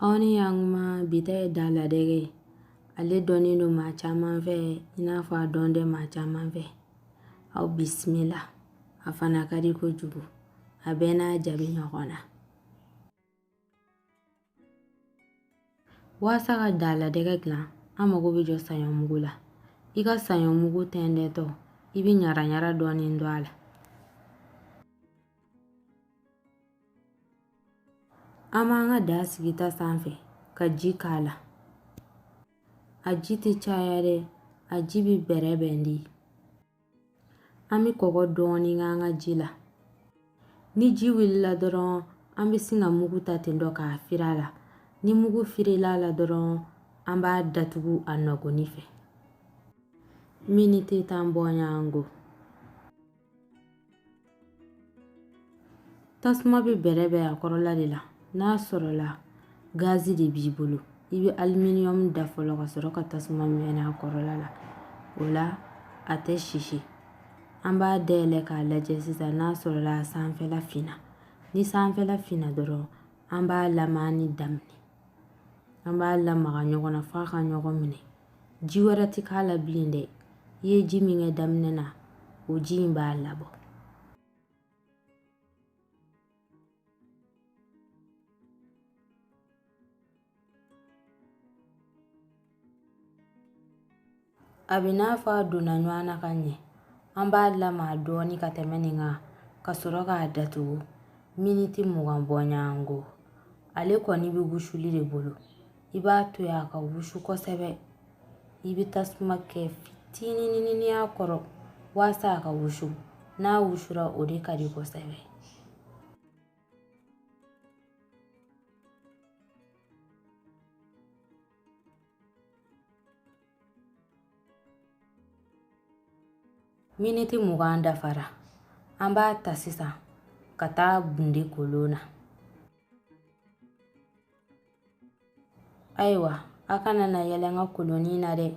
aw ni y'an kuma bi ta ye da la dɛgɛ ye ale dɔnnen don maa caman fɛ i n'a fɔ a dɔn tɛ maa caman fɛ aw bisimila a fana ka di kojugu a bɛɛ n'a jaabi ɲɔgɔn na walasa ka da la dɛgɛ dilan an mago bɛ jɔ saɲɔ mugu la i ka saɲɔ mugu tɛntɛntɔ i bɛ ɲara ɲara dɔɔnin don a la An b'an ka da sigi ta sanfɛ ka ji k'a la a ji tɛ caya dɛ a ji bɛ bɛrɛ bɛn de an bɛ kɔgɔ dɔɔnin k'an ka ji la ni ji wulila dɔrɔn an bɛ sin ka mugu ta ten tɔ k'a firi a la ni mugu firila a la dɔrɔn an b'a datugu a nɔgɔnni fɛ miniti tan bɔɲɔgɔnko tasuma bɛ bɛrɛ bɛn a kɔrɔla de la n'a sɔrɔla gazi de b'i bolo i bɛ aliminium da fɔlɔ ka sɔrɔ ka tasuma mɛnɛ a kɔrɔla la o la a tɛ sisi an b'a dayɛlɛ k'a lajɛ sisan n'a sɔrɔla a sanfɛla finna ni sanfɛla finna dɔrɔn an b'a lamagani daminɛ an b'a lamaga ɲɔgɔn na f'a ka ɲɔgɔn minɛ ji wɛrɛ ti k'a la bilen dɛ i ye ji min kɛ daminɛ na o ji in b'a labɔ a bɛ n'a fɔ a donna ɲɔgɔn na ka ɲɛ an b'a lamaga dɔɔni ka tɛmɛ nin kan ka sɔrɔ k'a datugu miniti mugan bɔɲɔgɔnko ale kɔni bɛ wusuli de bolo i b'a to yen a ka wusu kosɛbɛ i bɛ tasuma kɛ fitininin y'a kɔrɔ walasa a ka wusu n'a wusura o de ka di kosɛbɛ miniti mugan dafara an b'a ta sisan ka taa bunte kolon na ayiwa a kana na yɛlɛ n ka kolonin na dɛ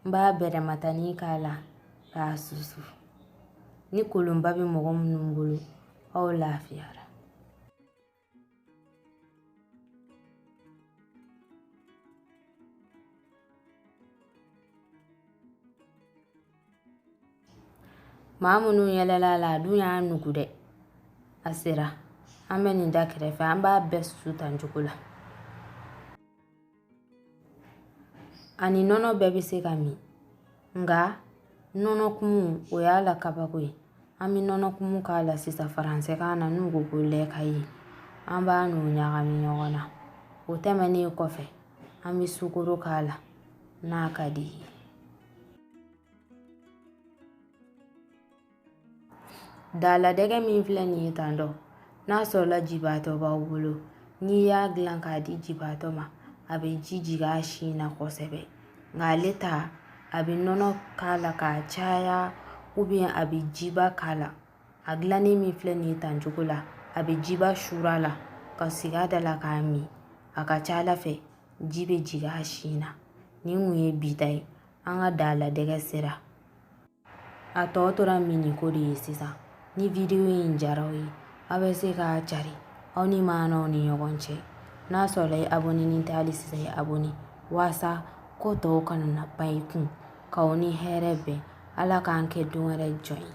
n b'a bɛrɛmatani k'a la k'a susu ni kolonba bɛ mɔgɔ minnu bolo aw lafiyara Maa minnu yɛlɛla a la a dun y'a nugu dɛ a sera an bɛ nin da kɛrɛfɛ an b'a bɛɛ susu tan cogo la ani nɔnɔ bɛɛ bɛ se ka min nka nɔnɔ kumu o y'a la kabako ye an bɛ nɔnɔ kumu k'a la sisan faransɛkan na n'u ko ko lait caillé an b'a n'o ɲagami ɲɔgɔn na o tɛmɛnen kɔfɛ an bɛ sukoro k'a la n'a ka d'i ye Daladɛgɛ min filɛ nin ye tan donc n'a sɔrɔla jibaatɔ b'aw bolo n'i y'a dilan k'a di jibaatɔ ma a bɛ ji jigin a sin na kosɛbɛ nka ale ta a bɛ nɔnɔ k'a la k'a caya a bɛ jiba k'a la a dilannen min filɛ nin ye tan cogo la a bɛ jiba sur'a la k'a sigi a da la k'a min a ka ca a la fɛ ji bɛ jigin a sin na ni o ye bi ta ye an ka daladɛgɛ sera a tɔ tora minniko de ye sisan ni vidiyo in diyar'aw ye aw bɛ se k'a cari aw ni maanaw ni ɲɔgɔn cɛ n'a sɔrɔla i abɔninen tɛ hali sisan i abɔni waasa ko tɔw kana na ban i kun k'aw ni hɛrɛ bɛn ala k'an kɛ don wɛrɛ jɔn ye